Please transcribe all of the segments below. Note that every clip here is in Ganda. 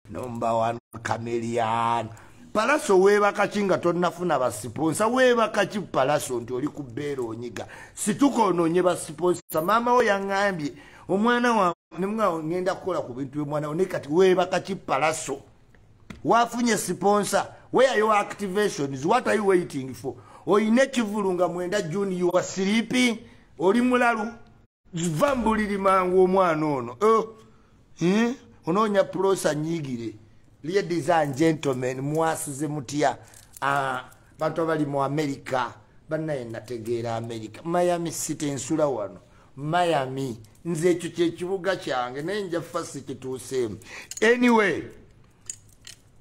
number one chameleon palaso weebakaki nga tonnafuna basiponsa weebakaki palaso nti oli ku beera onyiga situka onoonye basiponsa maama wo yaŋambye omwana wa ngenda kukola ku bintu byomwana wo naye kati weebakaki palaso wafunye siponsa where your activations what are you waiting for oyina ekivulu nga mwenda juni you are sleeping oli mulalu va mbuliri mangu omwana ono oh, eh, onoonya pulosa nyigire ladies and gentlemen mwasize mutya ah, bantu abali mu amerika banaye nategeera amerika miami city nsula wano miami nze ekyo kyekibuga kyange naye nja fasi kituuseemu anyway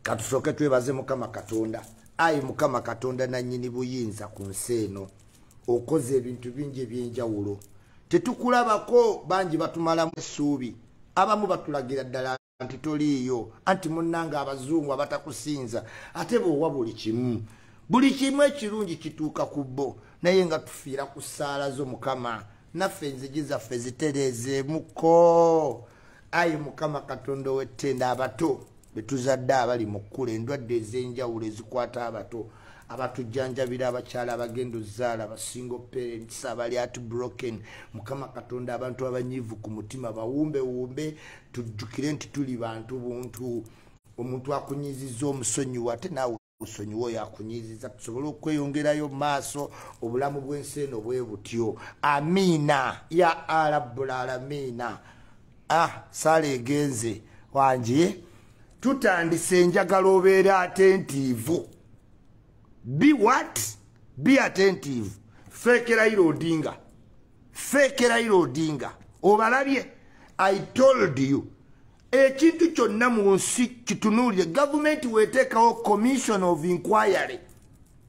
katusooke twebaze mukama katonda ayi mukama katonda nanyini buyinza ku nsi eno okoze ebintu bingi ebyenjawulo tetukulabako bangi batumalamu essuubi abamu batulagira ddala nti toliiyo anti munnanga abazungu abatakusinza ate boowa buli kimu buli kimu ekirungi kituuka ku bo naye nga tufiira ku ssaala zo mukama naffe enzigi zaffe zitereezeemuko ayi mukama katonda ow'ettenda abato betuzadde abali mu kkula endwadde ez'enjawulo ezikwata abato abatujjanjabira abakyala abagenda ozaala basingo parents abali at broken mukama katonda abantu abanyiivu ku mutima bawumbewumbe tujjukire nti tuli bantu buntu omuntu akunyiziza omusonyiwa ate naawe musonyiwe oyo akunyiiziza tusobole okweyongerayo mu maaso obulamu bw'ensi eno bwe butyo amiina ya arabbul alamiina ah sala egenze wangi tutandise enjagala obeera atentiivu be what be atentiivu feekerairo odinga fake raila odinga obalabye i told you ekintu kyonna mu nsi kitunuulire gavumenti weteekawo commission of inquiry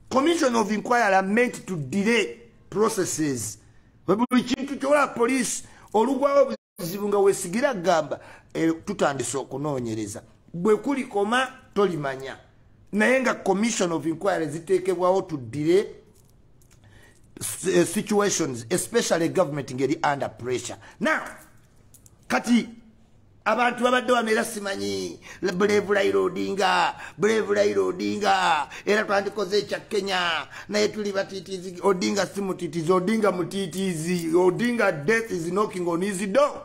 commission of inquiry ament to delay processes buli kintu kyola poliisi olugwawo ekizibu nga wesigira gamba eh, tutandise okunoonyereza bwe kulikoma tolimanya naye nga commission of inquiry ziteekebwawo tuddire eh, situations especially government ngeri under pressure now kati abantu babadde wano era simanyi brave raila odinga brave raila odinga era twandikoze ekya kenya naye tuli batitizi odinga si mutitizi odinga mutitizi odinga death is knocking on his door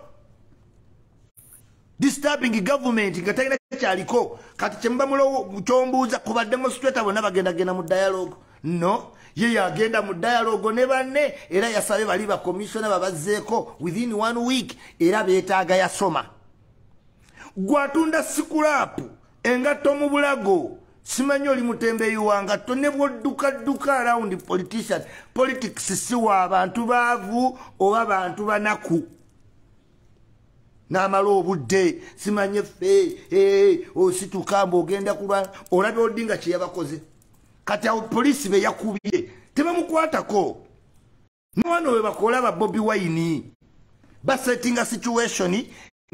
disturbing government nga talina kyaliko kati kyemuba mulo kyombuuza kuba demonstrator bonna bagendagenda mu dialogue no ye yagenda mu dialogue ne banne era yasabe bali bakomissiona babazzeeko within one week era beetaaga yasoma gwatunda sikulaapu engatto mu bulago simanyi oli mutembeyi wa ngatto ne bwoddukadduka arawundi politician politics si wa bantu baavu oba bantu banaku n'amala obudde simanyi effe eh, osituka mbu ogenda kulwa olabye oddi nga kye yabakoze kati awo poliisi be yakubye tebamukwatako Mwano we bakola ba Bobby Wine. Ba setting a situation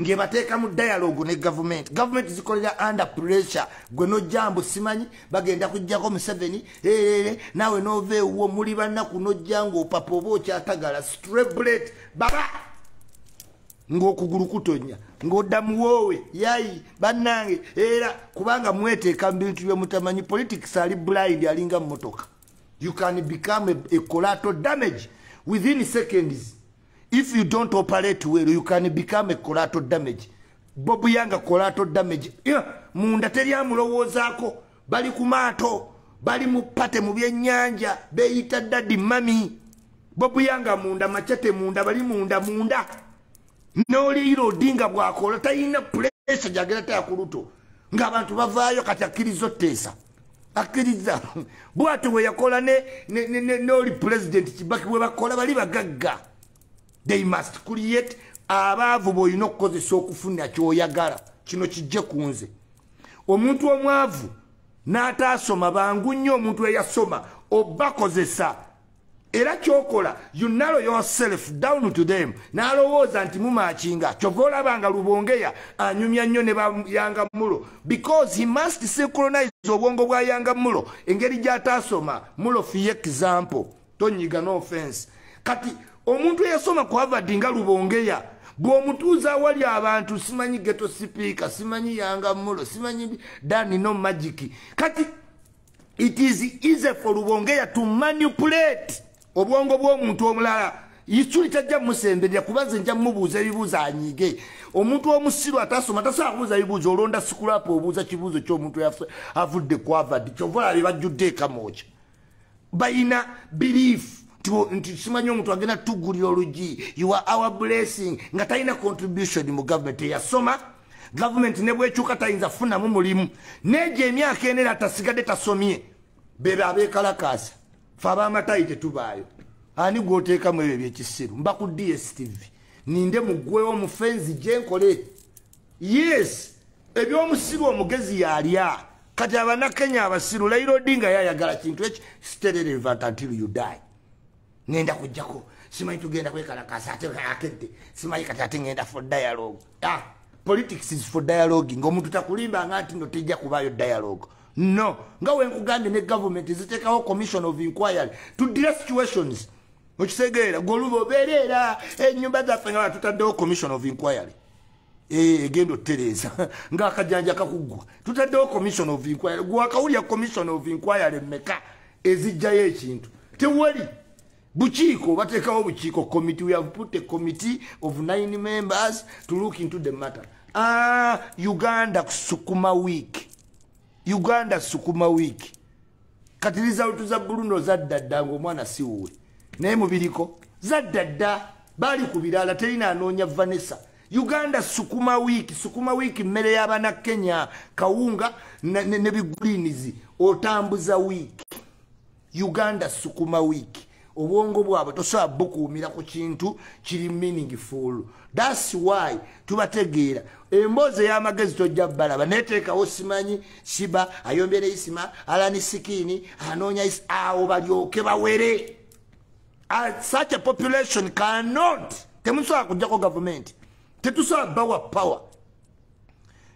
nge bateka mu dialogue ne government. Government is calling under pressure. Gwe no jambo simanyi bagenda kujja ko Museveni. Eh eh eh nawe no ve wo muli banna kuno jango papo bo cha tagala straight bullet. Baba ngo kuguru kutonya. Ngo damu wowe yai banange era kubanga mwete kambintu yo mutamanyi politics ali blind alinga motoka. you can become a, a collateral damage within seconds if you don't operate well you can become a collateral damage bobu yanga collateral damage yeah. munda teri amulowoozaako bali ku maato bali mu pate mu byennyanja beeyita dadi mami bobu yanga munda macate munda bali munda munda n'oliira odinga bwakola talina pulesa gyagera tayakuluto nga abantu bavaayo kati akkiriza otteesa akkiriza bwati bwe yakola n'oli pulezidenti kibaki bwe bakola bali bagagga they must create abaavu b'olina okukozesa okufuna kyoyagala kino kijje ku nze omuntu omwavu n'ataasoma bangu nnyo omuntu eyasoma obakozesa era kyokola you narrow yourself down to them nalowooza nti mumakinga kyova olaba nga lubongeya anyumya nnyo ne bayanga mulo because he must synchronize obwongo bwa yanga mulo engeri gyataasoma mulo fiye example tonyiga no offense kati omuntu eyasoma ku havard nga lubongeya bw'omutuuza awali abantu simanyi geto sipiika simanyi yanga mulo simanyi dani no magiki kati it is easy for lubongeya to manipulate obwongo bw'omuntu omulala yisuli tajja musemberera kuba nze nja mubuuza ebibuuzo anyige omuntu omusiru atasoma tasobola kubuuza bibuuzo olonda sikulapa obuuza kibuuzo kyomuntu avudde kwavadi kyova olabe bajjudde ekamooca balina biriifu nti simanyi omuntu agenda tugulira olugi ua our blessing nga talina contribution mu gavumenti eyasoma gavumenti ne bwekyuka tayinza kufunamu mulimu negyo emyaka ena era tasigadde tasomye bebe abekalakaasa fe abamatayi tetubaayo ani gwoteekamu ebyo ebyekisiru mba ku dstv ninde mugwewo mufenzi gyenkole yes ebyomusiru omugezi yalya kati abanakenya abasiru lairo dinga yayagala kintu eki stererevant until you die ngenda kujjako simanyi tugenda kwekalakasa ate akedde simanyi kati ate ngenda for dialogue ah, politics is for dialogue ngaomuntu takulimba nga nti no tejja kubaayo dialogue no nga wenkugambye ne government ziteekawo commission of inquiry to dire situations okitegeera goluba obeera era enyumba zaffe nga batutaddewo commission of inquiry Eh, egenda otereeza ngaakajanja kakuggwa tutaddewo commission of inquiry gwakawulya commission of inquiry meka ezijjayo ekintu tewali bukiiko bateekawo bukiiko committee we have put a committee of nine members to look into the matter ah, uganda sukuma week uganda sukuma week kati lizawutu za buluno zadda dda ngaomwana siwuwe naye mubiriko zadda dda baali ku birala terina anoonya vanessa uganda sukuma wiiki sukuma wiiki mmere y'abana kenya kawunga ne bigulinizi otambuza wiiki uganda sukuma wiiki obwongo bwabwe tosobola bukuumira ku kintu kiri meaningful thats why tubategeera emboozi ey'amagezi tojja balaba neteekawo simanyi siba ayombye ne isima alani sikiini anoonya awo balyoke bawere such a population cannot temusobola kujjako gavumenti tetusobola bawa power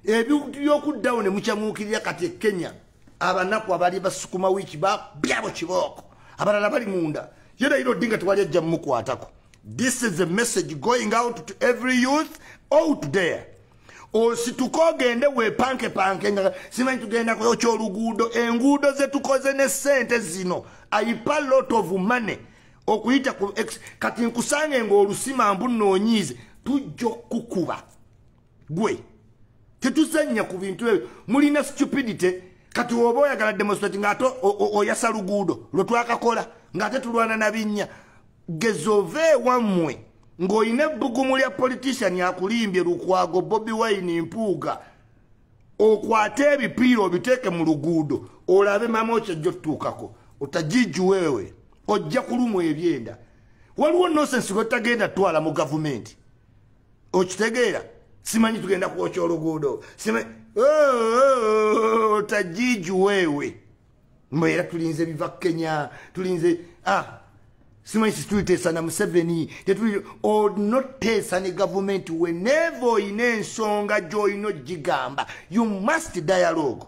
ebintu byokuddawo ne mukyamuukirira kati e kenya abanaku abali basukuma wiiki babyabo kibooko abalala bali munda ye naira odinga tewali ajja mumukwatako this is a message going out to every youth out there osituka ogende wepankepanke nga simanyi tugenda kuyokya oluguudo enguudo zetukoze ne sente zino aipa lot of money okuyita kati nkusange ngaolusima mbu noonyiize tujja okukuba gwe tetuzannya ku bintu ebyo mulina stupidity kati oba oyagala demonstrate ngaate oyasa luguudo lwetwakakola ngaate tulwana nabinnya gezova ewammwe ng'olina ebbugumu lya politician akulimbye lukwago bobi wine mpuuga okwate ebipiira obiteeke mu luguudo olabe mama okyajja otutuukako otajiju wewe ojja kulumwa ebyenda waliwo nosensi lwetagenda twala mu gavumenti okitegeera simanyi tugenda kwokya oluguudo simanyi oh, oh, oh, tajiji wewe mbu era tulinze biva kenya tulinze ah simanyi situliteesa na museveni tetuli onoteesa ne gavumenti weneva olina ensonga gyolina ogigamba you must dialogue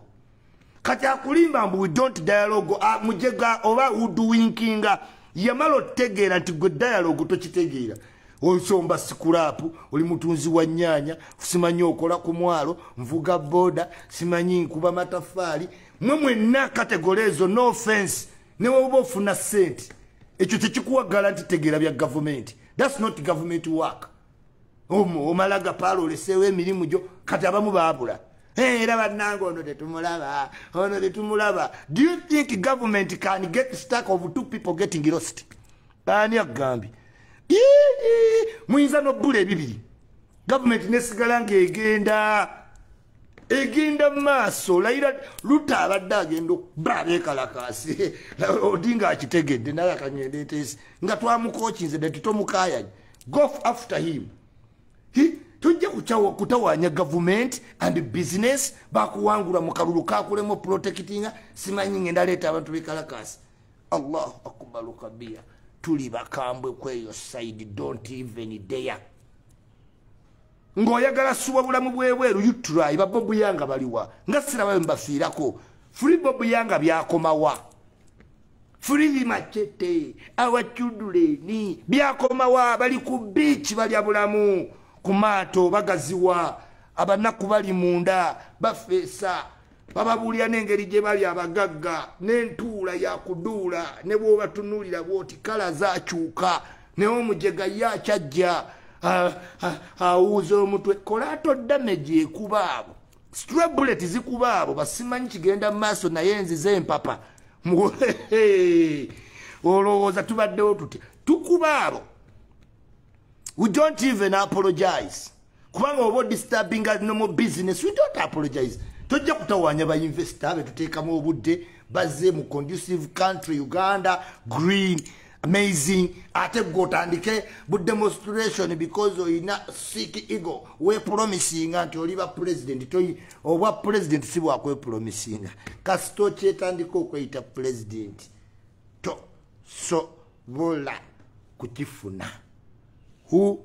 kati akulimba mbu we don't dialogue ah, mujega oba uduwinkinga yamala otegeera nti gwe dialogue tokitegeera osomba sikulaapu oli mutunzi wa nyaanya simanyi okola ku mwalo nvuga boda simanyi nkuba matafaali mwe mwenna kategole ezo no offense neweoba ofuna sente ekyo tekikuwagala nti tegeera bya gavumenti thats not government work omala gapaala oleseewo emirimu gyo kati abamu baabula era bannanga ono tetumulaba ono tetumulaba do you think government can get stack of two people getting lost ani agambye muyinza nobula ebibiri gavumenti nesigala ngaegenda egenda maaso layira luta abadde agenda okuba abekalakaasi odinga akitegedde naye akangenda eteesi nga twamukokinze dati tomukayanye go after him tujja kutawanya gavumenti and business bakuwangula mu kalulu kakulemu protectinga simanyi ngenda leeta abantu bekalakaasi allahu akubalu kabia tuli bakambwe kweyo side don't even dare ng'oyagala suba bulamu bwebweru utry babobu yanga baliwa nga sirabayo mbafiirako free bobu yanga byakomawa free macete awachuduleni byakomawa bali ku biiki balya bulamu ku maato bagaziwa abanaku bali munda bafeesa bababuulira n'engeri gye bali abagagga n'entuula yakuduula ne bw'obatunuulira bw'oti kala zakyuka naye omujega ye akyajja awuuza omutwe kolaato damage ekuba abo stra bullet zikuba abo basimanyi kigenda mu maaso naye nziza empapa olowooza tubaddewo tutya tukuba abo we don't even apologize kubanga oba disturbing nomo business we don't apologize tojja kutawanya ba investor abe tuteekamu obudde bazze mu conducive country uganda green amazing ate gwe otandike bu demonstration because oyina sik ego wepromisinga nti oliba president toyi obwa president si bwakwepromisinga kasita okyetandika okweyita president to so bola kukifuna who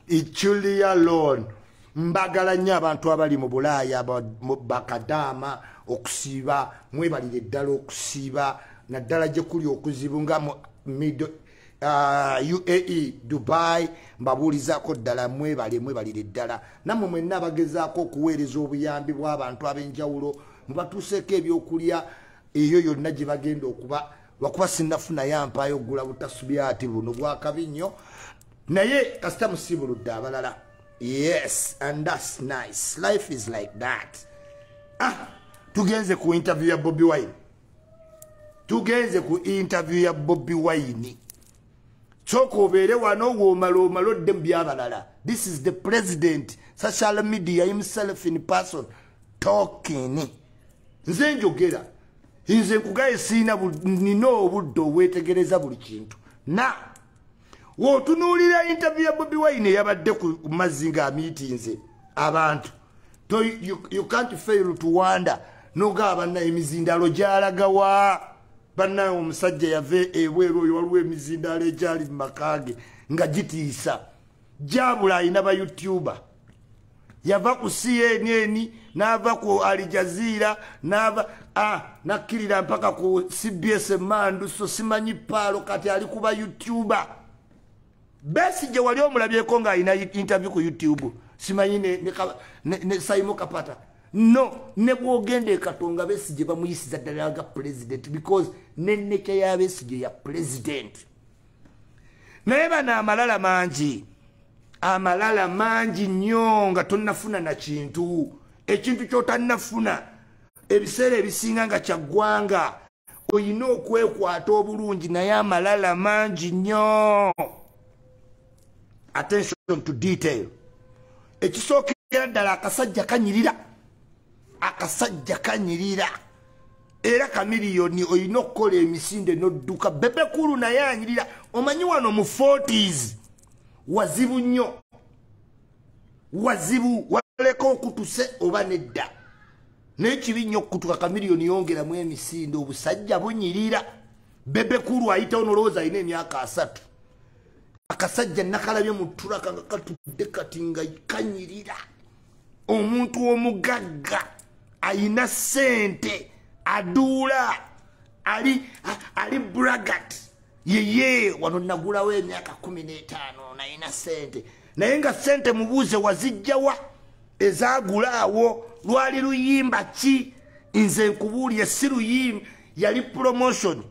iculia loan mbagala nnyo abantu abali mu bulaaya bakadaama okusiiba mwebalire ddala okusiiba naddala gye kuli okuzibu nga mu middle Uh, uae dubai mbabuulizako ddala mwebale mwebalire ddala nammwe mwenna abagezaako okuweereza obuyambi bw'abantu ab'enjawulo mubatuuseeko ebyokulya eyo yonna gye bagenda okuba lwakuba sinafunayo ampaayo okugula butasubyati buno bwakabi nnyo naye kasita musiibuludde abalala yes and thats nice life is like that ah tugenze ku interview ya bobi wine tugenze ku interview ya bobi wine kyoka obeere wano woomala omala odde mu byabalala this is the president social media himself in person tokini nze njogera nze nkugaye siina nina obudde obwetegereza buli kintu na wotunuulira intervie ya bobi wine eyabadde ku mazzi nga amiitinze abantu to you, you can't fail to wonder nogaa banna emizindalo gyalagawa bannaye omusajja yava ebweru oyo waliwo emizindalo egyali mu maka ge nga gitiisa jabula alina ba youtuber yava ku cnn nava ku alijaziira nava a nakkirira mpaka ku cbs emandu so simanyi paalo kati ali kuba youtuber besi gye wali omulabyeko ng'alina interview ku youtube simanyi ne, ne, ne, ne saimo kapata no ne bwogenda ekatonga besi gye bamuyisiza ddala ga president because nenekya ya besi gye ya president naye bano amalala mangi amalala mangi nnyo nga tonnafuna na kintu ekintu kyotannafuna ebiseera ebisinga nga kyaggwanga olina okwekwata obulungi naye amalala mangi nnyo attention to detail ekisookera ddala akasajja kanyirira akasajja kanyirira era kamiliyoni olina okukola emisinde nodduka bebekulu naye anyirira omanyi wano mu forties wazibu nnyo wazibu waleka okutuse oba nedda naye kibi nnyo okutuka kamiliyoni yongeramu emisinde obusajja bunyirira bebekulu ayitawo nolowooza alina emyaka asatu akasajja nakalabye mu tulaka nga katudde kati nga kanyirira omuntu omugagga ayina sente aduula ali ali bragat yeye wano nagulawo emyaka kumi n'etaano nayina sente naye nga sente mubuuze wazijjawa ezagula awo lwali luyimba ki nze nkubuulire si luyimba yali promotion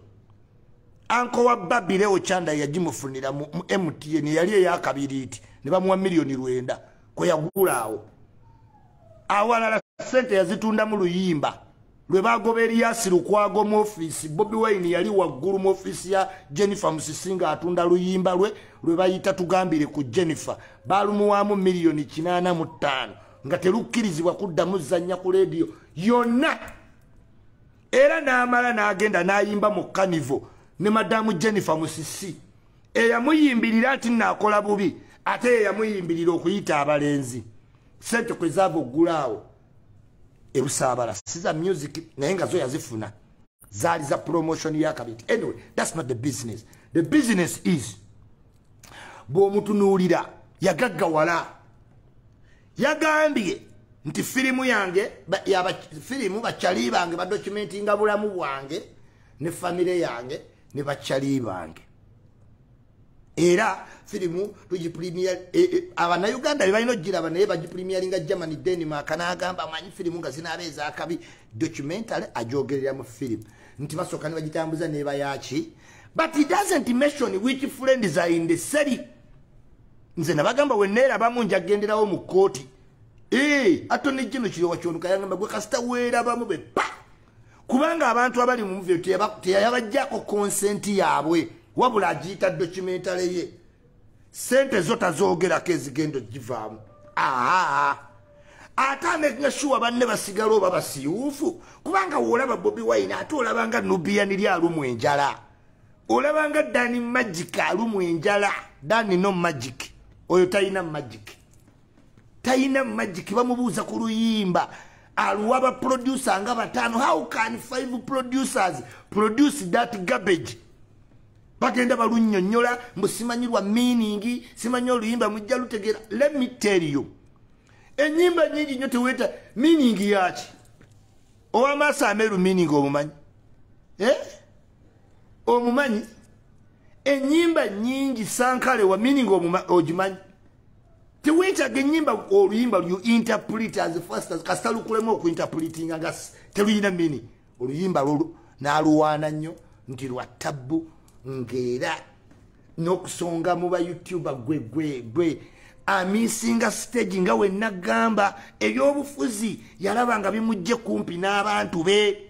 anko wa babirewo kyanda yagimufunira mu mtn yali eyakabiriiti ne bamuwa miliyoni lwenda kwe yagula awo awalala sente yazitundamu luyimba lwe bagoba eriyasi lukwago mu ofiisi bobi wine yali waggulu mu ofiisi ya jennifer musisi nga atunda luyimba lwe lwe bayita tugambire ku jennifer balumuwaamu miliyoni kinaana mu ttaano nga telukkirizibwa kuddamu zannya ku leediyo yonna era n'amala n'agenda n'ayimba mu kanivo ne madamu jennifer musisi eyamuyimbirira nti nakola bubi ate yeyamuyimbirira okuyita abalenzi sente kwezava oggulaawo ebusaabala siza music naye nga zo yazifuna zaali za promotion yakabinti anyway thats not the business the business is bw'omutunuulira yagaggawala yagambye nti firimu yange firimu bakyali bange badokumenti nga bulamu bwange ne famire yange ne bakyali bange era firimu tugipulimiya e, e, abanauganda bebalina okugiraba naye bagipulimiyalinga germany denmark nagamba amanyi firimu nga zinaaba ezakabi documentary ajogerera mu firimu nti basooka ne bagitambuza neba yaki but he doesn't mention which friends are in the city nze nabagamba weneerabamu njagenderawo mu kooti ee eh, atone jino kirowa kyonuka yangamba gwe kasita weerabamu bepa kubanga abantu abali mu muvyo teyayabajjako konsenti yaabwe wabula agiyita documentale ye sente zo tazoogerako ezigenda ogivaamu aa ate amekinga shuwa banne basigala oba basiwuufu kubanga woolaba bobi wine ate olabanga nubian ly alumu enjala olabanga dani magic alumu enjala dani no magic oyo talina magic tayina magic bamubuuza ku luyimba aluwa ba producer nga batano how can five producers produce that garbage bagenda balunyonyola mbu simanyirwa meaning simanyi oluyimba mujja lutegera let me tell you enyimba nyingi nyo teweta meaning yaki owamaaso ameru meaning omumanyi eh? omumanyi enyimba nyingi sankale wa meaning ogimanyi tewetaga enyimba oluyimba lu interpret as fast as kasita lukulemu okuinterpretinga nga teluyina mini oluyimba lolu naluwaana nnyo nti lwa tabbu ngaera nokusonga mu ba youtuber gwe gwe gwe amisinga stage nga wenna gamba ebyobufuzi yalaba nga bimujje kumpi n'abantu be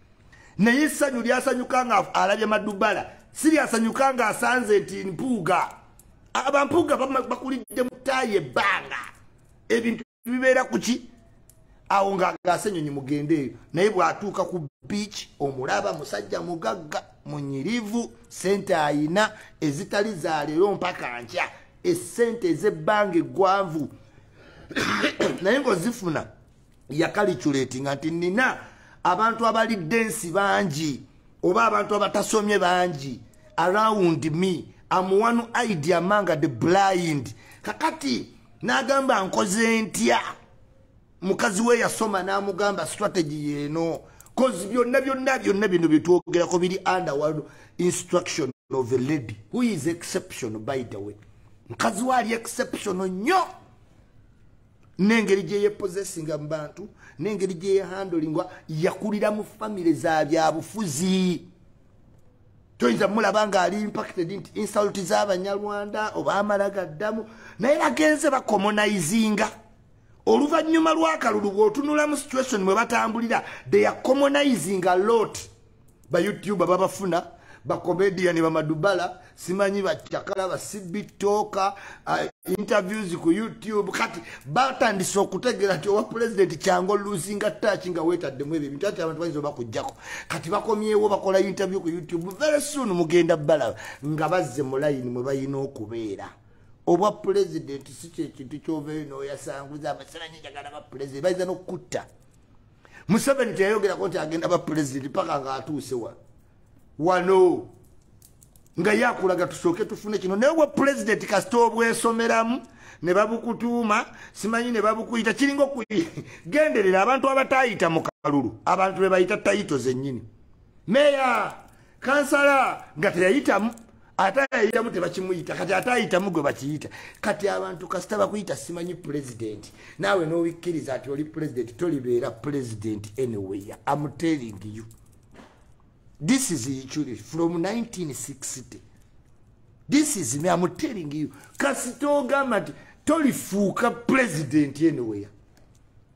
naye essanyu lyasanyuka nga alabye madubala si lyasanyuka nga asanze nti mpuuga abampuuga bakulidde mutaayi ebbanga ebintu bibeera ku ki awo ng'agaasa ennyonyi mugende eyo naye bw'atuuka ku biiki omulaba musajja mugagga munyirivu sente ayina ezitali za leero mpaka nkya esente ez'ebbanga eggwanvu naye ng'ozifuna yakaliculetinga nti nina abantu abalidde ensi bangi oba abantu abatasomye bangi around me am one idea among the blind kakati nagamba nkoze ntya mukazi we yasoma namugamba strategy yeno cause byonna byonna byonna bino byetwogerako biri under one instruction of a lady who is exception by the way mukazi we ali exception nnyo n'engeri gye yepozesinga mu bantu n'engeri gye yehandolingwa yakulira mu famire za byabufuzi toyinza mulaba ng'ali impacted nti insult z'abanyarwanda oba amala gaddamu naye bagenze bakomonayizinga oluvannyuma lw'akalulu bw'otunula mu situation mwe batambulira they are commonizing a lot ba youtuber babafuna ba comedian ba madubala simanyi ba chakala ba sibi toka uh, interviews ku youtube kati batandise okutegera ti owa president kyango losing a touch nga weta de mwebe bintu ati abantu bayizo bakujjako kati bakomyewo bakola interview ku youtube very soon mugenda bala nga bazze mu line mwe bayina okubeera obwa president si kyekintu kyovayo noyasanguza amasananyi njagala ba president bayiza nokukutta museveni teyayogerako nti agenda ba pulezidenti paka nga atuuse wa wano nga yakulaga tusooke tufune kino naye obwa pulezidenti kasita obwesomeramu ne babukutuuma simanyi ne babukuyita kiringa okuyi genderera abantu abatayita mu kalulu abantu be bayita tayito zennyini meya kansala nga teyayitamu ate ayayitamu tebakimuyita kati ate ayitamu gwe bakiyita kati abantu kasita bakuyita simanyi pulezidenti naawe n'obikkiriza nti oli pulezidenti tolibeera pulezidenti anyway am telling you this is ichuri from 1960 this is me am telling you kasita ogamba nti tolifuuka pulezidenti anyway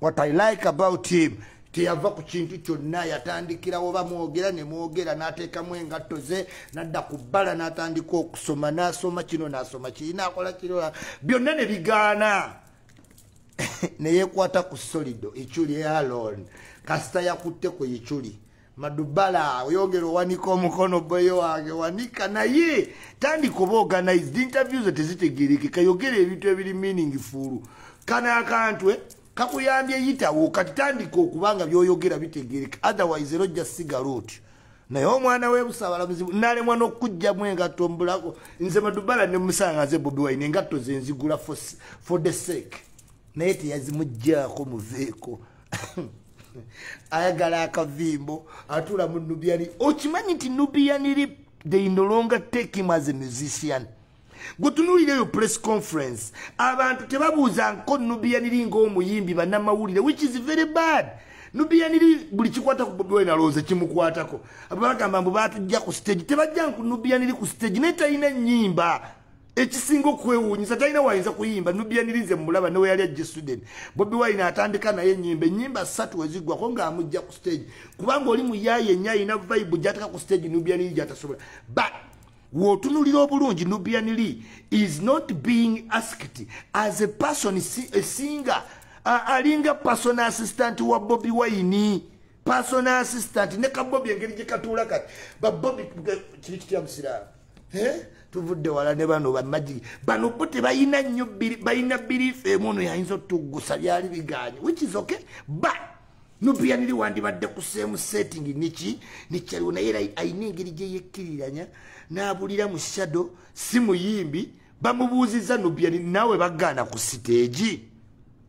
what i like about him teyava ku kintu kyonna yatandikirawo bamwogera ne mwogera n'ateekamu engatto ze nadda ku bbala n'atandika okusoma n'asoma kino n'asoma kiri n'akola kiriola byonna ne bigaana ne yeekwata ku solido ekyuli alon kasita yakutte ku ekyuli madubala oyogera owanika omukono boye wange wanika naye tandika oba organized interview ze tezitegerekeka yogera ebintu ebiri meaning fuulu kano akantu eh, kakuyambye yitawo kati tandika okuba nga byoyogera bitegereka otherwise era ojja sigala otyo naye omwana webusabala muzibu nalemwa nokujjamu engatto mbulako nze madubala nemusanga nze bobi wine engatto zenzigula for the sake naye teyazimuggyako muveeko ayagala akavimbo atula mu nubiani okimanyi nti nubiani rip they no longer take him as a musician gwetunulira eyo press conference abantu tebabuuza nko nubiani ri ngaomuyimbi banamawulire which is very bad nubiani ri buli kikwata ku bobi wine alowooza kimukwatako abagamba mbu batujja ku stage tebajja nku nubiani ri ku stage naye talina nyimba ekisinga okwewuunyisa talina wayinza kuyimba nubianirinze mumulaba newe yali ajja sweden bobi wine atandika naye enyimba enyimba satu weziggwako ngaamujja ku stage kubanga oli muyaye enya alina vibe gyateka ku stage nubianiri gyatasobola but wotunulira obulungi nubianiri is not being asked as a person a singer alinga person assistant wa bobi wine personal assistant ne kabobi engeri gyekatuula kati babobi kiri kitya musiraamu tuvudde wala ne bano bamagi bano bo tebalina nnyo balina biriifu emu ono yayinza otuggusa byali biganye which is okay but nubiyaniri wandibadde ku same setting niki nikyaliwo naye era alina engeri gyeyekkiriranya n'abulira mu shadow si muyimbi bamubuuzizza nubiyaniri naawe bagaana ku siteegi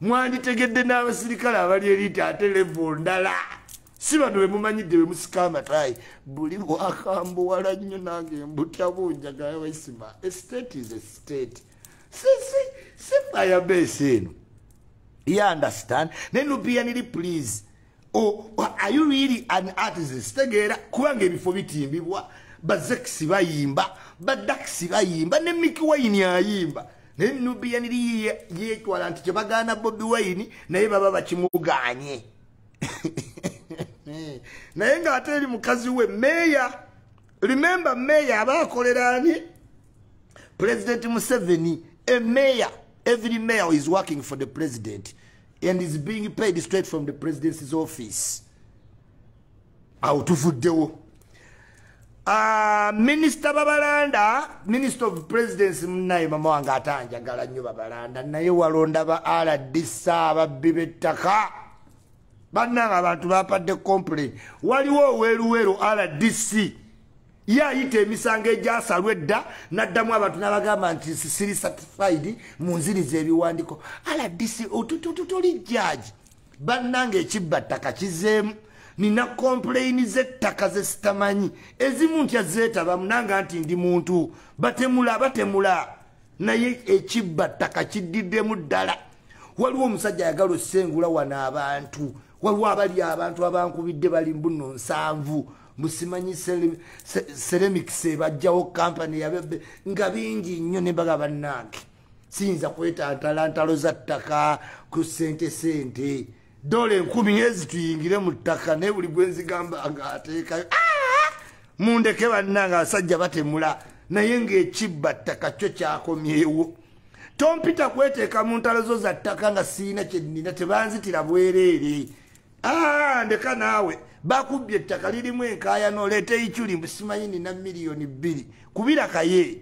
mwanditegedde n'abasirikale abali eriita ate levo ndala si bano bemumanyidde bemusika amatayi buli wakambuwala nnyo nange mbutya bunjagala waisima estate is estate sisi si fayabesi eno y understand naye nupiyaniri please Oh, are you really an artist? Tegeera kubanga ebifo bitimbibwa bazekisi bayimba badakisi bayimba ne Mickey Wine ayimba naye Nubian Li yeetwala nti kyebagaana Bobi Wine naye baba bakimuganye naye ng'ate eri mukazi we meeya remember meeya aba akolera ani president Museveni a mayor every mayor is working for the president and is being paid straight from the president's office awo tuvuddewo ah, minisita babalanda minister of presidence munaye mama wange ate anjagala nnyo babalanda naye walonda ba rdc ababbi b'ettaka bannanga abantu bapadde complain waliwo oweruweru rdc ye ayita emisango egyasalwa edda naddamu abantu nabagamba nti siri certified mu nziriza ebiwandiko aladisi tuli jaji bannanga ekibba ttaka kizeemu nina kompuleyini z'ettaka ze sitamanyi ezimu ntya zeetabamu nanga nti ndi muntu batemula batemula naye ekibba ttaka kiddiddemu ddala waliwo omusajja ayagala osengula wano abantu waliwo abali abantu abankubidde bali mbuno nsanvu musimanyi ceramics ebajjawo kampany yabebe nga bingi nnyo nembaga bannange siyinza kwetantala ntalo za ttaka ku sente sente dola enkumi ezi tuyingire mu ttaka naye buli gwenzigamba nga ateekayo ah! mundeke bannange abasajja batemula naye ngaekibba ttaka kyo kyakomyewo tompita kweteeka mu ntalo zo za ttaka nga siina kyennina tebanzitira bwereere ah, ndeka naawe bakubbye ettaka lirimu enkaayana oleeta eiculi mbu simanyi nina miliyoni bbiri kubira kaye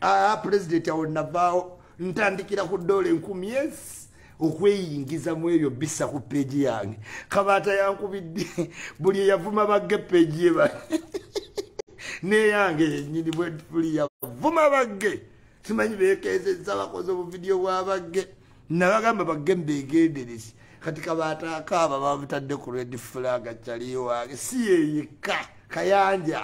ah, pulezidenti awo navaawo ntandikira ku doola enkumi esi okweyingiza mu ebyo bisa ku peegi yange kabaata yankubidde buli eyavuma bagge peegi ye neyange yenyini bwebuli yavuma bagge simanyi bekezeza bakoze obuvidiyo bwabagge nabagamba bagge mbegenderezi kati kabatakaaba babutadde ku red flag cali wange si yeyekka kayanja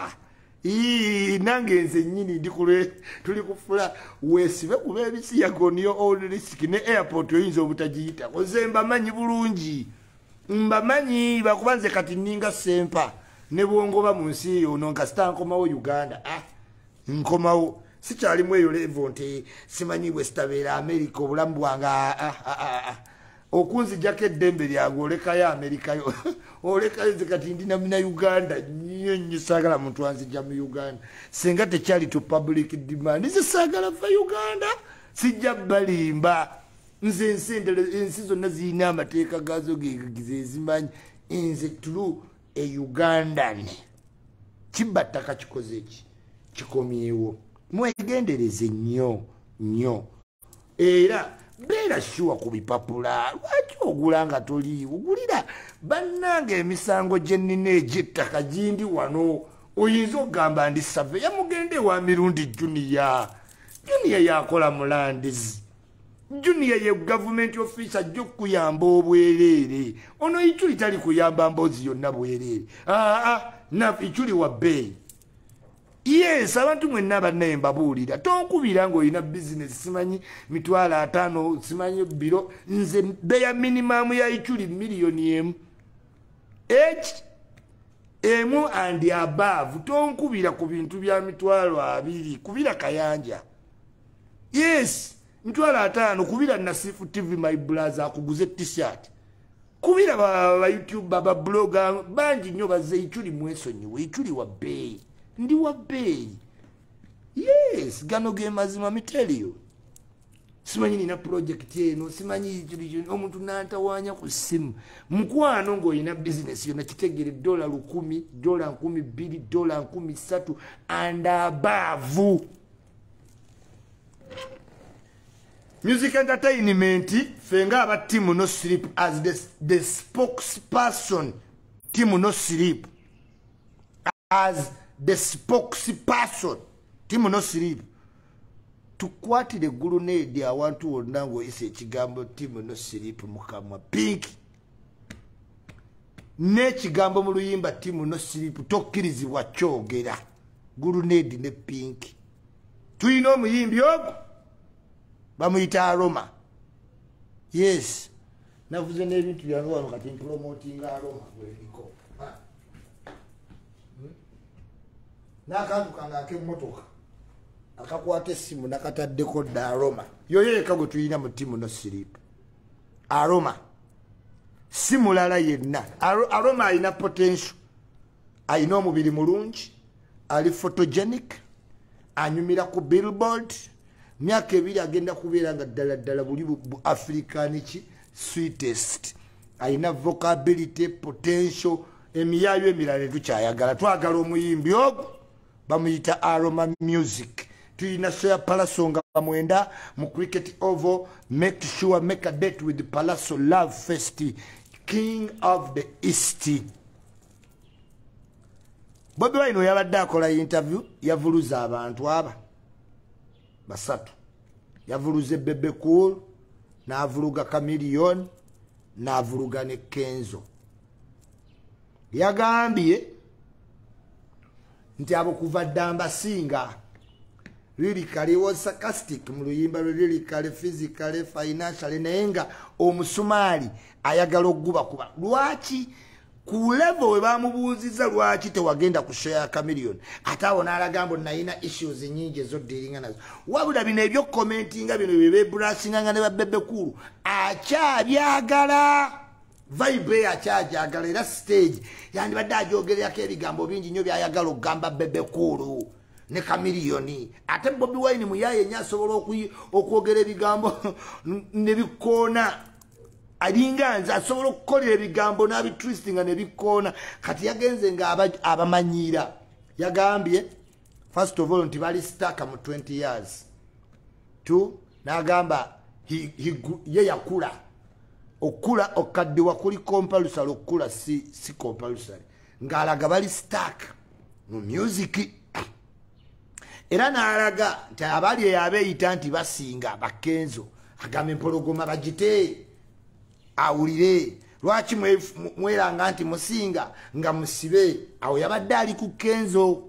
nange nze nyini ndi kulwe tuli kufula wesibe kuba ebisiyaga oniyo old risk ne airport oyinza obutagiyita oze mbamanyi bulungi mbamanyi bakuba nze kati ninga sempa ne bwongoba mu nsi eyo ono nkasita nkomawo uganda ah, nkomawo sikyalimu eyo levo nti simanyi wesitabeera amerika obulamu bwange ah, ah, ah, okunzijako eddembe lyange olekayo amerikayo olekayo nze kati ndi namina uganda nyo nyo saagala muntu anzija mu uganda singa tekyali to public demand nze saagala va uganda sijja balimba nze ensi zonna zirina amateeka gaazo gezimanyi nze tulu e ugandan kibba ttaka kikoze ki kikomyewo mwegendereze nnyo nnyo era beera shuwa ku bipapula lwaki ogula nga toliiwo gulira bannanga emisango gye nnina egy'ettaka gindi wano oyinza okugamba ndi save yamugenda ewa mirundi juniya juniya yakola mulandizi junior ye government office ajja okuyamba obwereere ono ichuli tali kuyamba mbozi yonna bwereere aa ah, ah, na ichuli wa bay yes abantu mwenna bannaye mbabuulira tonkubira ngaolina bizinesi simanyi mitwalo ataano simanyi biro nze beya minimamu ya ichuli miliyoni emu eki emu and above tonkubira ku bintu bya mitwalo abiri kubira kayanja yes mitwalo ataano kubira nasifu tv my blaza akuguze t-shirt kubira bayoutube babloga bangi nnyo baze ichuli mwesonyiwe ichuli wa bbeeyi ndi wa bbeeyi yes gano ge mazima mitelio simanyi nina pulojekiti eno simanyi omuntu nantawanya ku simu mukwano ngaolina bizinesi yona kitegere dola lukumi dola nkumi bbiri dola nkumi ssatu and abaavu music entertainment fe nga aba team no sleep as the, the spokesperson team no sleep as the spokesperson team no sleep tukwatire gulu nedi awantu wonna ngoyise ekigambo team no sleep mukamwa pinki n'ekigambo mu luyimba timu no siripu tokkirizibwa kyogera guluneedi ne pinki tulina omuyimbi ogwo bamuyita aroma yes navuze n'ebintu byange wano kati mpulomotinga aroma bweriko ah. hmm? n'akantu kange ak'emmotoka akakwata essimu nakataddeko dda aroma yoyo yeka gwe tulina mu timu no siripu aroma si mulala yenna aroma alina potential alina omubiri mulungi ali photogenic anyumira ku billboard myaka ebiri agenda kubeera nga ddala ddala buli bu african ki sweetest alina vocability potential emiyaayo emirala etukyayagala twagala omuyimbi ogwo bamuyita aroma music tuyina soya palaso nga bamwenda mu cricket ovo make sure make a date with palaso love fest king of the east bobi wine oyabadde akola interview yavuluza abantu aba basatu yavuluze bebe cool navuluga camilion navuluga ne kenzo yagambye nti abo kuva dda mbasinga lirikale wasakastic mu luyimba lwe lirikale physicale financiale naye nga omusumaali ayagala okugubakuba lwaki ku levo we bamubuuziza lwaki tewagenda ku show ya camilion ate awo n'alaga mbu nalina issues nyingi ezoddiringa nazo wabula bino ebyokukomentinga bino byebebrasinganga ne babebekulu akyabyagala vibe eyakyajagala era stage yandibadde ajogererako ebigambo bingi nnyo byayagala okugamba bebekuulu ne kamiliyoni ate bobi wine muyaye nyo asobola okwogera ebigambo nebikoona alinga nze asobola okukolera ebigambo n'abitristinga nebikoona kati yagenze nga abamanyiira yagambye first of all nti bali staka mu 20 years two nagamba ye yakula okukula okukaddiwa kuli compalusary okukula si, si compalusary ng'alaga bali staka mu musiki era n'alaga nti abali eyo abeeyita nti basinga bakenzo agamba empologoma bagite awulire lwaki mweranga nti musinga nga musibe awo yabadde ali ku kenzo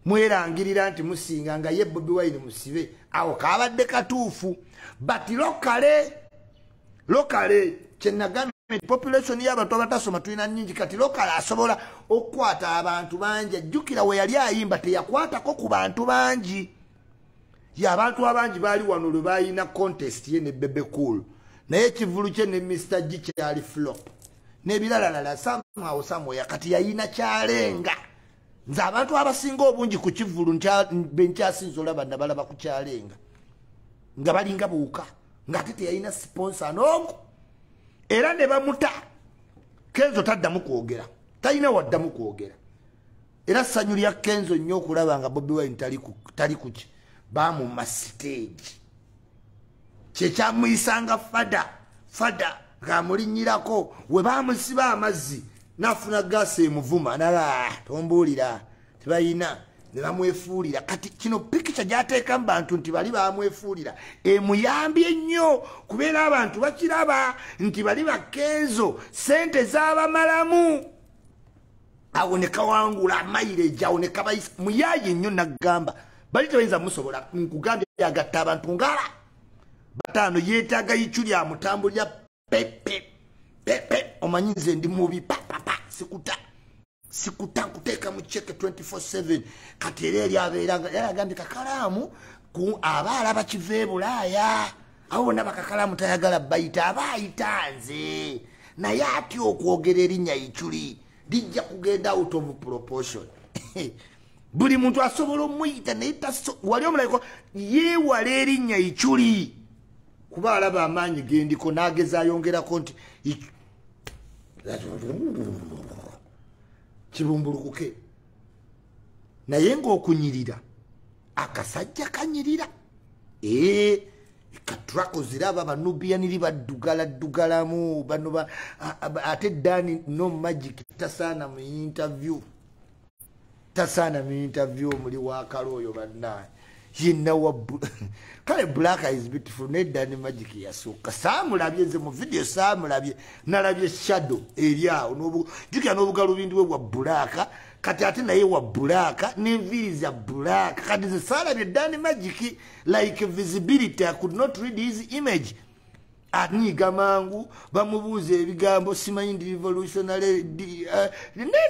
mwerangirira nti musinga nga ye bobi wine musibe awo kabadde katuufu but lokale lokale kyenagambye population yabantu abatasoma tulina nyingi kati lokale asobola okukwata abantu bangi ajjukira weyali ayimba teyakwatako ku bantu bangi yabantu abangi baali wano lwe balina contest ye ne bebe cool naye ekivulu kye ne mr g kyali flop nebiralalala samawo samoya kati yayina kyalenga nze abantu abasinga obungi ku kivulu benkyasinza olaba nabalaba ku kyalenga nga balinga buuka ngaate teyalina siponsa noomu era ne bamuta kenzo taddamu kwogera talina waddamu kwogera era sanyu lya kenzo nnyo okulaba nga bobi wine tali kuki bamuma siteegi kyekyamuyisanga fada fada ngaamulinyirako we bamusiba amazzi nafuna gaasi emuvuma nala ah, tombuulira tebayina ne bamwefuulira kati kino pikica gyateekamu bantu nti bali bamwefuulira emuyambye nnyo kubeera abantu bakiraba nti bali bakenzo sente zabamalamu awo ne kawangula maireji awo ne kabayisa muyaye nnyo naggamba bali tebayinza musobola nkugambye agatta abantu ngala bataano yeetaaga yicu lya mutambo lya pepe pepe omanyi nze ndi mubi papapa sikuta sikuta nkuteeka mu ceke 24/7 kati era eri abeera yalagambye kakalaamu ku aba alaba kiva e bulaaya abo bonna bakakalamu tayagala bayita aba ayita nze naye atya okwogera erinnya iculi lijja kugenda out of proportion buli muntu asobola omuyita naye wali omulabiko yeewala erinnya iculi kuba alaba amaanyi gendiko n'ageza ayongerako nti kibumbulukuke naye ngaokunyirira akasajja kanyirira ee katrako ziraba banubiyaniri baddugala ddugalamu bano ate dani no magic tasaana mu interview tasaana mu interview omuli wakala oyo bannaye yenna wa kale black is beautiful naye dani magic yasooka saamulabye nze mu vidiyo saamulabye nalabye shadow eri awo jukira n'obugalubindi bwe bwa bulaaka kati ate naye wa bulaaka n'enviiri za bulaaka kati ze saalabye dani magic like visibility i could not read his image anyiga mangu bamubuuza ebigambo simanyi ndi revolutionary eh,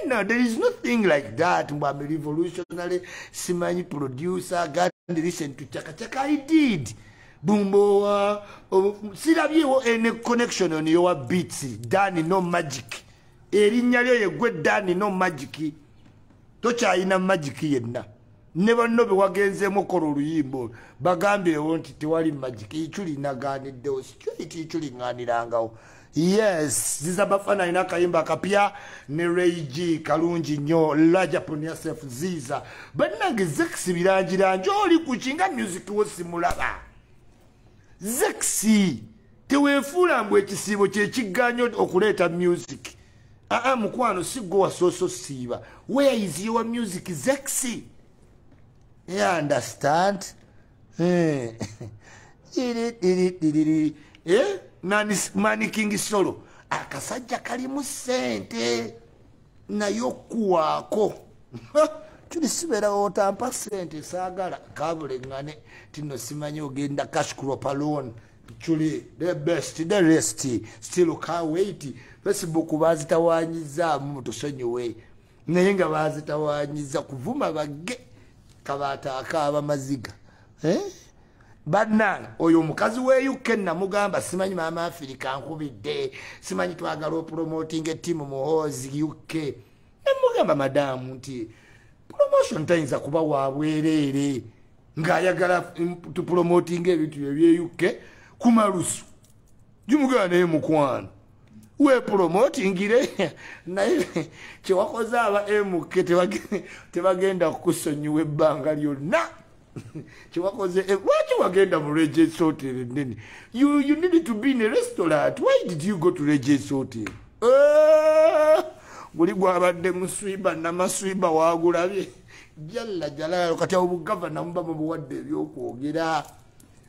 no there is nothing like that mbu am revolutionary simanyi producer god listen to chakachaka i did bumbowa oh, sirabyewo any connection on your beats dani no magic erinnya lyo yegwe dani no magic tokyayina magic yenna ne banno be wagenzeemu okola oluyimba olwo bagambirewo nti tewali magic ichuli nagaaniddewo straight ichuli ŋŋaanirangawo yes ziza bafana alina akayimba akapya ne rayg kalungi nnyo lajapon yasef ziza bannange zekisi birangirangi oli ku kinga music wo simulaba zekisi teweefuula mbu ekisiibo kyekigganyo okuleeta music aa ah, ah, mukwano si gwe wasooso siiba where is your music zexy you understand eh. eh? mani king solo akasajja kalimu sente naye okuwaako tuli sibeera otampa sente saagala kabulengane tino simanyi ogenda cash crop alone Chuli, the best, the rest, still can't wait. Facebook bazitawanyiza mu tusonyiwe. Naye nga bazitawanyiza kuvuma bage kabata akaba maziga. Eh? Banna oyo mukazi we UK na mugamba simanyi mama Afrika nkubide. Simanyi twagalo promoting a team mu hozi UK. Na mugamba madam nti promotion tayinza kuba wabwerere. ng'ayagala tupromotinga ebintu byebyeukke kumalusu gimugala naye mukwano wepromotingire naye kyewakoze aba mk tebagenda kukusonyiwa ebbanga lyonna kyewakoze eh, lwaki wagenda mu reges hotel enene you need to be in a restaurant why did you go to reges hotel eh, guli gwabadde muswiba namaswiba wagulabye jalla jalaalu kati awo bugavana muba mubuwadde ebyokwogera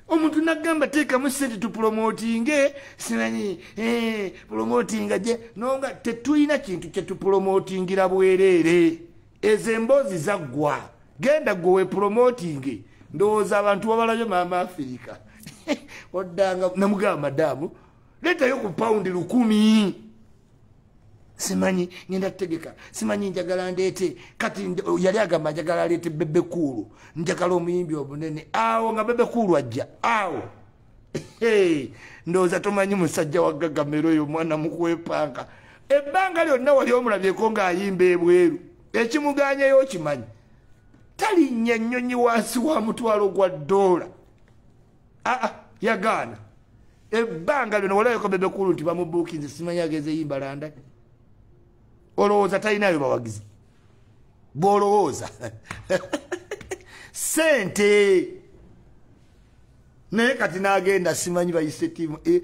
omuntu nagamba teekamu sente tupulomotinge simanyi eh, pulomotinga gye nonga tetulina kintu kyetupulomotingira bwereere ezo emboozi zaggwa genda gwe wepulomotinge ndowooza abantu babalabyo maama afirika oddanga namugamba madaamu leetayo ku pawundi lukumi simanyi ngenda tutegeka simanyi njagala ndeete kati yali agamba njagala aleete bebe kuulu njagala omuyimbi obunene awo nga bebe kuulu ajja awo ndowooza tomanyi musajja wagagamera oyo omwana mukwepanga ebbanga lyonna wali omulabyeko ng'ayimba ebweru ekimuganyayo okimanyi talinnya ennyonyi wansi wa mutwalo gwa doola aa ah, ah, yagaana ebbanga lyona walayoko bebekulu nti bamubuukinze simanyi ageze yimbalanda olowooza talinayo bawagizi bwolowooza sente naye kati nagenda simanyi bayise tiimu eh,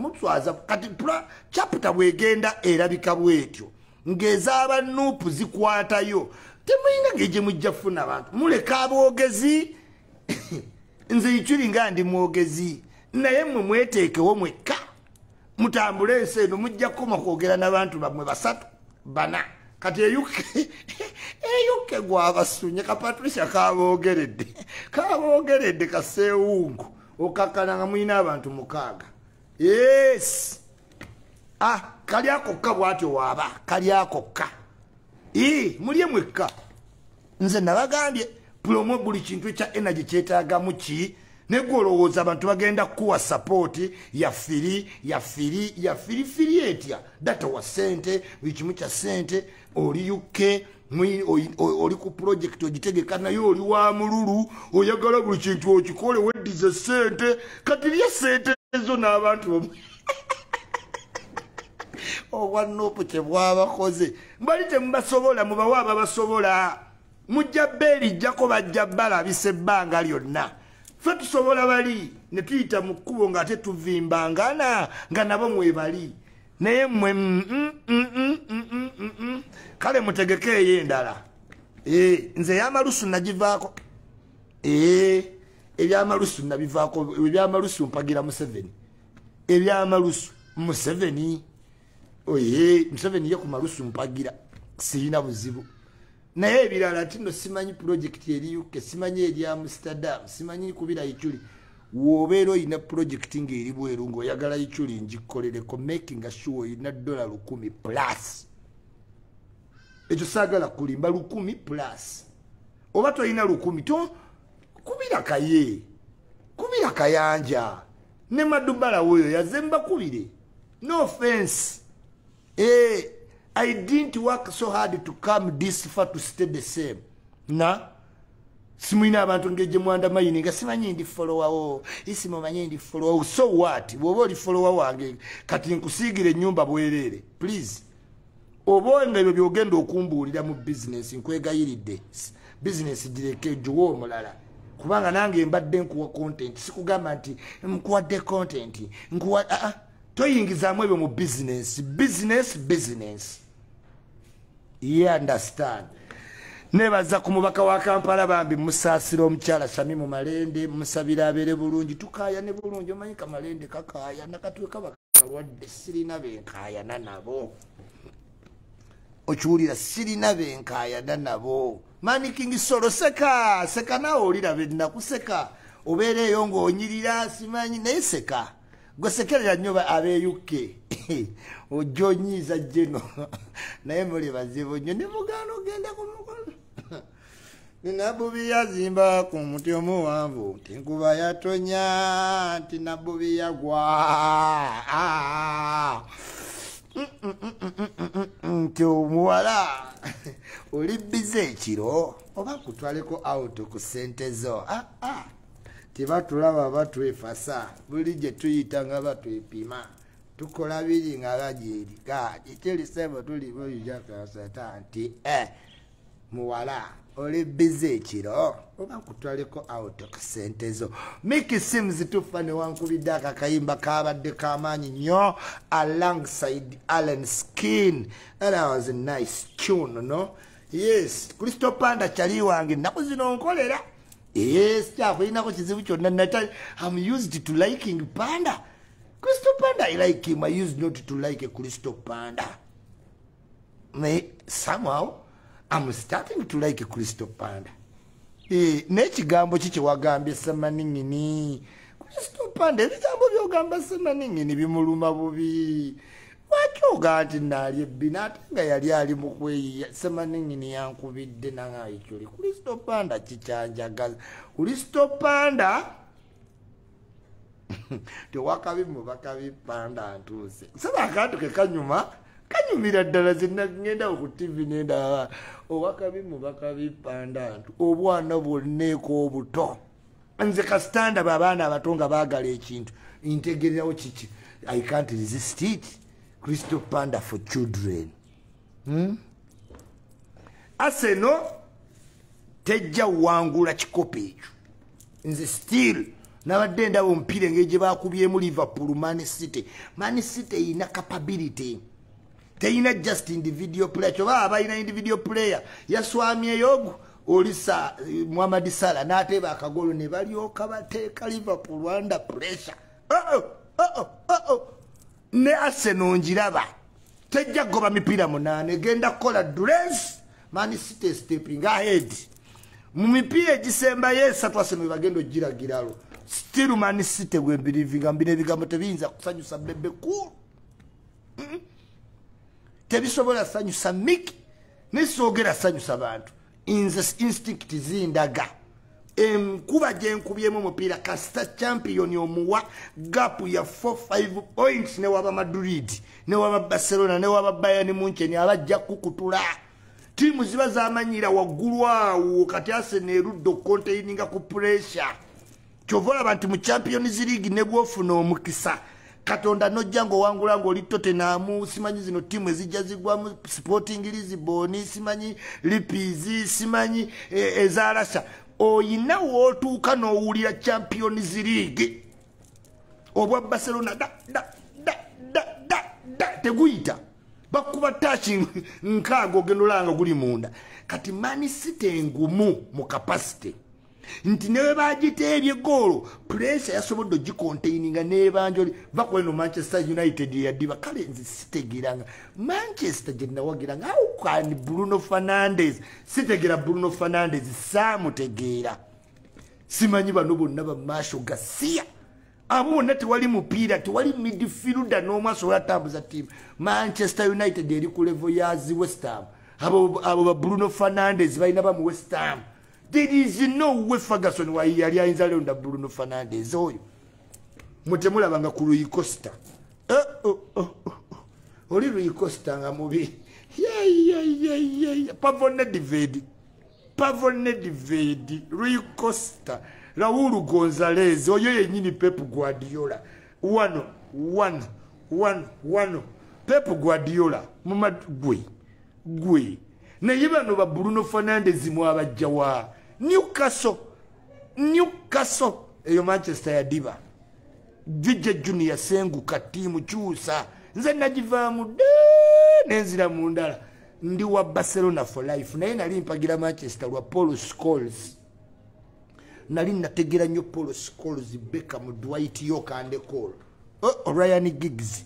muswaza kati caputa bwegenda erabika bwetyo ngezaba nupu zikwatayo temuyinga ngejemujja funa abantu muleka abogezi nze ichuli nga ndi mwogezi naye mwe mweteekewo mwekka mutambule ensi eno mujja kukoma kwogera n'abantu bamwe basatu bana kati eyuke eyuke gwabasunye ka patricia kaboogeredde kaboogeredde kaseewungu okakkana nga mulina abantu mukaaga yes ah kali akokka bwatyo waaba kali akokka ii mulye mwekka nze nabagambye pulomo buli kintu ekya energy kyetagamu ki negwolowooza abantu bagenda kukuwa sapooti yafiri yafiri yafiri firi etya data wa sente buli kimu kya sente oli uk oli ku pulojekiti ogitegeka naye oli wa mululu oyagala buli kintu okikole weddize sente kati lye sente ezo n'abantu obwannopu kyebwabakoze Mbali temubasobola mubawa ababasobola mujja beerijjako bajja balabisa ebbanga lyonna fe tusobola bali ne tuyita mu kkubo ng'ate tuvimbangana nga nabo mwebali naye mmwe mm, mm, mm, kale mutegeke eyo endala eh, nze eyamalusu nagivaako eh, ebyamalusu nabivaako ebyamalusu mpagira museveni ebyamalusu museveni oye museveni ye ku malusu mpagira sirina buzibu naye ebirala tino simanyi pulojekiti eri uk simanyi eri amsterdam simanyi kubira ichuli wobeera olina pulojekiti ngaeri bweru ngaoyagala ichuli ngikoleleko making sure olina dola lukumi plus ekyo saagala kulimba lukumi plus oba tolina lukumi to kubira kaye kubira kayanja ne madubala woyo yazembakubire no offense eh, i didn't work so hard to come this far to stay the same na simulina abantu ngeje mwanda mayini nga simanyi ndi follower wo isi mumanyi ndi follower so what wobo li follower wange kati nkusigire nyumba bwerere please oba nga ebyo byogenda okumbuulira mu bizinesi nkwegayiridde bizinesi gireke ejuwa omulala kubanga nange mbadde nkuwa kontenti sikugamba nti nkuwadde kontenti nkuwa aa ah, ah, toyingizaamu ebyo mu bizinesi bizinesi bizinesi ye understand nebaza ku mubaka wa kampala bambi musaasira omukyala sami mu malende musabira abeere bulungi tukaaya ne bulungi omanyika malende kakaaya nakatwekaba balwadde sirina benkayana nabo okiwulira sirina benkayana nabo manikingi solo seka seka nawe olira bennaku seka obeera eyo ngaonyirira simanyi naye seka gwesekerera nnyo abeyukke ojja onyiiza jeno naye muli bazibu nnyo ne mugaana ogenda ku mukolo nabbubi yazimba ku muti omuwanvu nti nkuba yatonya nti nabbubi yagwa ah. nti omuwala oli bize ekiro oba kutwaleko auto ku sente zo ah, ah. tibatulaba batwefasa buli gye tuyita nga batwepima tukola biri nga bagyerika ekyelisebo tuliboijakasata nti e eh. muwala oli bize ekiro oba kutwaleko auto kasente zo miki simu zituffa newankubidde ako akayimba kabadde kamaanyi nnyo alongside allen skin era was nice tune no yes kristo panda kyali wange ennaku zino nkolera yes kyakulinako kizibu kyonna natali am used to liking panda kristo panda i like him i used not to like kristo panda naye somehow am starting to like kristo panda e, nekigambo ki kyewagambye semaningini kristo panda ebigambo byogamba semaningini bimuluma bubi lwaki ogaa nti naali ebbina ate nga yali ali mu kweyiya semaningini yankubidde nangaayikyoli kristo panda kikyanjagaza kristo panda tewakabi mubakabi panda ntuuse nsaba akantu ke kanyuma kanyumira ddala zenagenda ku tv nendaba owakabi mubakabi panda ntu obwana bwonneeko obuto nze kasitanda babaana abato nga baagala ekintu ntegererawo kiki i can't resist it crystal panda for children hmm? aseno tejja wangula kikopo ekyo nze still nabadde ndaba omupiira engeri gye bakubyemu liverpool man city man city erina capability teyina just individual player kyoba abalina individual player yaswamyeyogu oli sa muhamadi sala nateeba akagolo ne balyoka bateeka liverpool under pressure oh -oh, oh -oh, oh -oh. ne Arsenal njiraba tejja goba mipira munane genda kola dress man city stepping ahead mu mipira egisemba yesa twase no bagendo jira giralo still man city we believe nga mbire bigambo tebinza kusanyusa bebe ku tebisobola sanyusa miki nisogera sanyusa bantu nze instinct zindaga enkuba gyenkubyemu omupiira kasita champion omuwa gapu ya 45 points newaba madrid newaba barcelona newaba bayani muncheni abajja kukutula tiimu ziba zamanyira waggulu awo kati asena erudde okukonteininga ku pressure kyova olaba nti mu champions league ne bwofuna omukisa katonda nojja ngaowangula ngaoli totenamu simanyi zino tiimu ezijja zigwamu sporting lisbon simanyi lipizi simanyi e, eza rasha oyina wootuuka n'owulira champions league obwa barcelona da da da da da da teguyita bakuba taaki nkaaga ogenda olanga guli munda kati manisite engumu mu kapasite nti newe bagiteebye goolo pulesa yasobodde ogikontaininga nebanjoli vakuleno manchester united eyadiba kale nze sitegeranga manchester gyenawagira nga aukani bruno fernandes sitegera bruno fernandes samutegeera simanyi bano bonna bamaasho gasiya abo bonna tewali mupiira tewali midfielda n'omu asobola atambuza tiimu manchester united eri ku levo yazi westham abo ba bruno fernandes balina bamu westham there is no way ferguson wayi yali ayinza leonda bruno fernandes oyo mutemulabanga ku luyi costa eh, oh, oh, oh, oli luyi costa nga mubi pavonedivedi pavonedivedi luyi costa raulu gonzalez oyo yenyini pep guardiola wano wano wano wano pep guardiola mumadgwe gwe naye bano ba bruno fernandez mwabajjawa newcastle newcastle eyo manchester yadiba jujja junior senguka tiimu kyusa nze nagivaamu dde nenzira mu ndala ndi wa barcelona for life naye nali mpagira manchester lwa paul scoles nali nategera nnyo paul scoles beka mu dwight yokandecol oh, orian gigs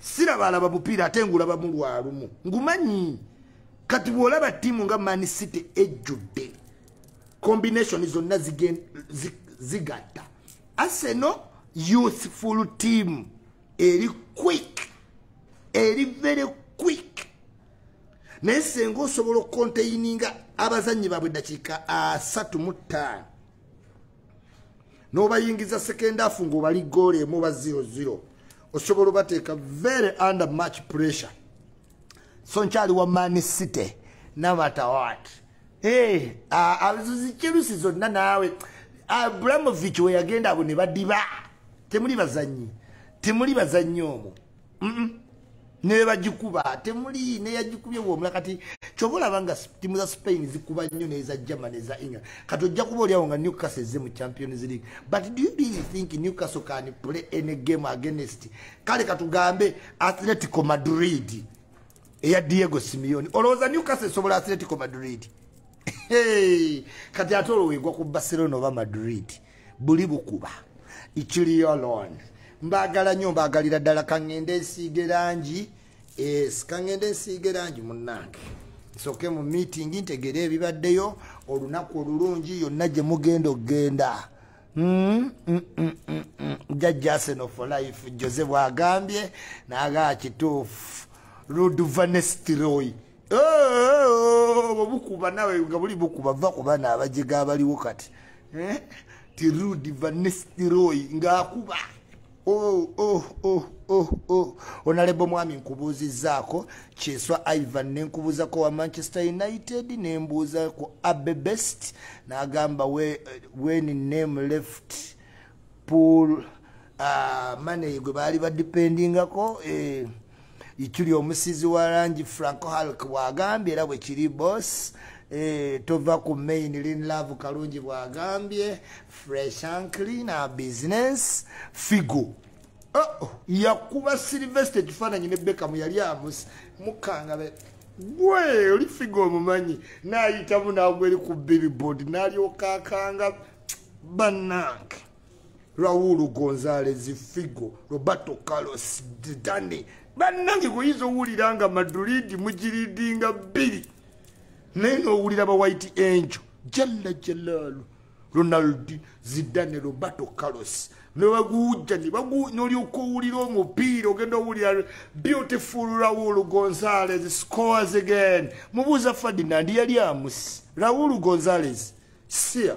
siraba alaba bupiira ate ngulaba mu lwalumu ngumanyi kati bw'olaba tiimu nga man city ejjudde combination zonna zigatta aseno youthful team eri quick eri very quick naye senga osobola okukonteyininga abazannyi baabwe eddakiika asatu mu ttaano n'obayingiza sekendaafu ng'obali goolo emu oba ziro ziro osobola obateeka very under much pressure so nkyali wa mani city namatawat eh, zikirusi zonna naawe abramovich weyagenda abo ne badiba temuli bazannyi temuli bazannyi omwo nebagikuba temuli neyagikubye bwomula kati kyoba olaba nga timu za spain zikuba nnyo neza german eza england kati ojja kuba olyawo nga newcastle eze mu champions league but do you really think newcastle can play any game against kale katugambe atletico madrid eya diego simeoni olowooza newcastle esobola atletico madrid kati ate olowegwa ku barcelona oba madrid buli bukuba ikiliyolon mbagala nyo mbagalira ddala kangende nsiige langi es kangende nsiige langi munnange nsoke mu meeting ntegere ebibaddeyo olunaku olulungi yonna gye mugenda okugenda hmm? mm, mm, mm, jajja aseno for life jose bwagambye naga kituufu ruduvanestroy obwo bukuba nawe nga buli bukuba va ku bana abajega abaliwo kati eh? ti rudi vanestiroy ngaakuba oh, oh, oh, oh, oh. onalebo mwami nkubuuzizaako kyeswa ivan nenkubuuzako wa manchester united nembuuza ku abe best nagamba wen name left pool uh, ah, maney gwe baali badipendingako eh, ituli omusizi wa langi franco halk bwagambye era bwe kiri boss eh, tova ku main lin love kalungi bwagambye fresh and clean a business figo oh, oh, yakuba silvester ekifaananyi ne bekamu yali amusi mukangabe gwe oli figo omumanyi nayitamu nagweri ku billboard nalyoka akanga banange raul gonzales figo roberto carlos didani bannange kuyinza owulira nga madrid mugiridinga bbiri naye nowulira ba white angel jalla jalalu ronaldi zidane roberto carlos nebaguwujja nolyoka owulira omupiira ogenda owulira beautiful raul gonzales scores again mubuuza ferdinand yali amusi raul gonzales sia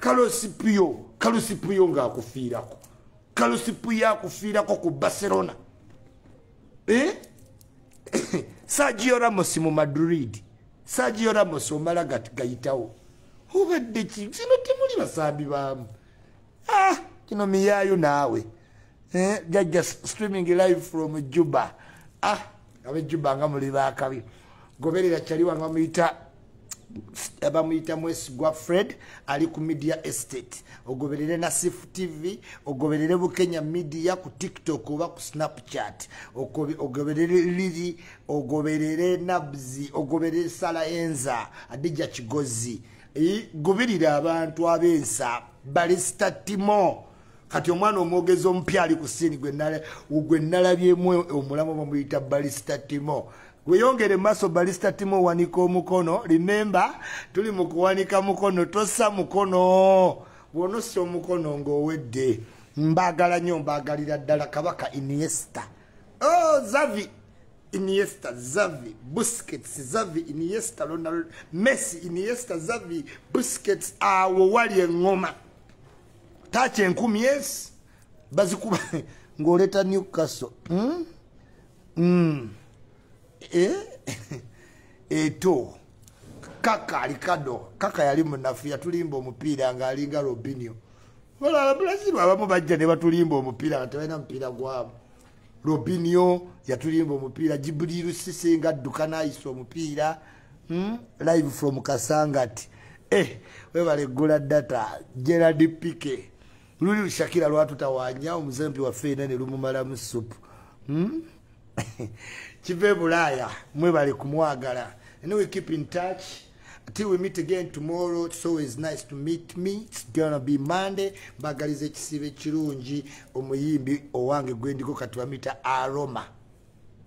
kalosipiyo kalosipiyo ngaakufiirako kalosipiyo akufiirako ku barcelona eh? sagio ramos mu madrid sagio ramos omala gati gayitawo obadde ki kino temuli basambi baamu ah, kino miyaayo naawe eh, jajja streaming live from juba ah, abejuba nga muli bakabi goberera kyali wanga muyita bamuyita mwesigwa fred ali ku media estate ogoberere nasif tv ogoberere bukenya media ku tiktok oba ku snapchat ogoberere liri ogoberere nabzi ogoberere sala enza adija kigozi gubirira abantu abensa balisita timo kati omwana omwogezi omupya ali ku siini gwe nalabyemu omulamu bamuyita balista timo weyongere maaso balista timo owanika omukono rimemba tuli mu kuwanika mukono tossa mukono bwonossa omukono ngaowedde mbagala nyo mbagalira ddala kabaka iniesta o oh, zavi Iniesta, Xavi, Busquets, Xavi, Iniesta, Ronaldo, Messi, Iniesta, Xavi, Busquets, awo wali engoma. tacha enkumi ezi bazikuba ng'oleeta new castle hmm? Hmm. Eh? eto kaka alikado kaka yali munafu yatulimba omupiira ng'alinga robinio olaba bulazibu abamu bajja ne batulimba omupiira nga tebalina mupiira gwabo robinio yatulimba omupiira jibuliru sisi nga adduka n'ayisa omupiira hmm? live from kasangati eh, webale gula data gerald pike luli lushakira lwatutawanya omuzempi waffe ena nelumumalamu supu hmm? kiva ebulaaya mwebale kumwagala and we keep in touch till we meet again tomorrow it's always nice to meet me it's gonna be monday mbagaliza ekisiibo ekirungi omuyimbi owange gwendiko kati bamita aroma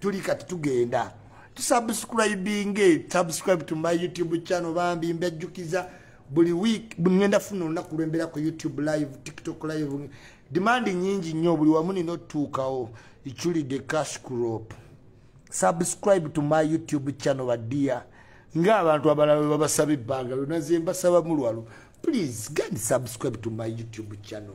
tuli kati tugenda tusubscribinge subscribe to my youtube channel bambi mbejjukiza buli week ngenda funa olunaku lwembeera ku youtube live tiktok live demand nyingi nnyo buli wamu nina otutuukawo iculide cash crop subscribe to my youtube channel badia ngaabantu abalala webabasaba ebbanga lyona zembasaba mulwalo please gandi subscribe to my youtube channel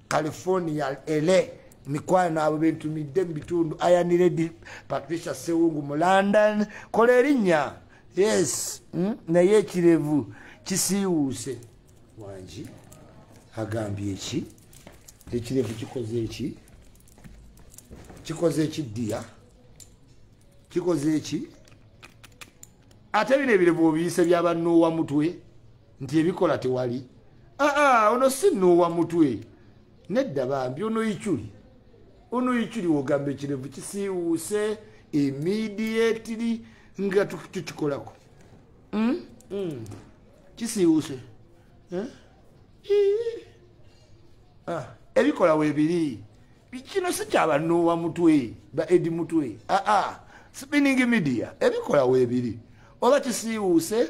california la mikwano abo bentumidde mu bitundu ayaniredi patricia sewungu mu london kola erinnya yes hmm? naye ekirevu kisiiwuuse wangi agambye eki ekirevu kikoze eki kikoze eki ddiya kikoze eki ate bino ebirevu obiyise byabanoowa mutwe nti ebikola tewali aa ah, ah, ono si noowa mutwe nedda bambi ono ikyuli ono ikyuli wogamba ekirevu kisiiwuuse immediately nga tukikolako hmm? hmm. kisiiwuuse eh? ah, ebikola webiri kino si kyabanoowa mutwe ba edi mutwe aa spinning media ebikola webiri oba kisiiwuuse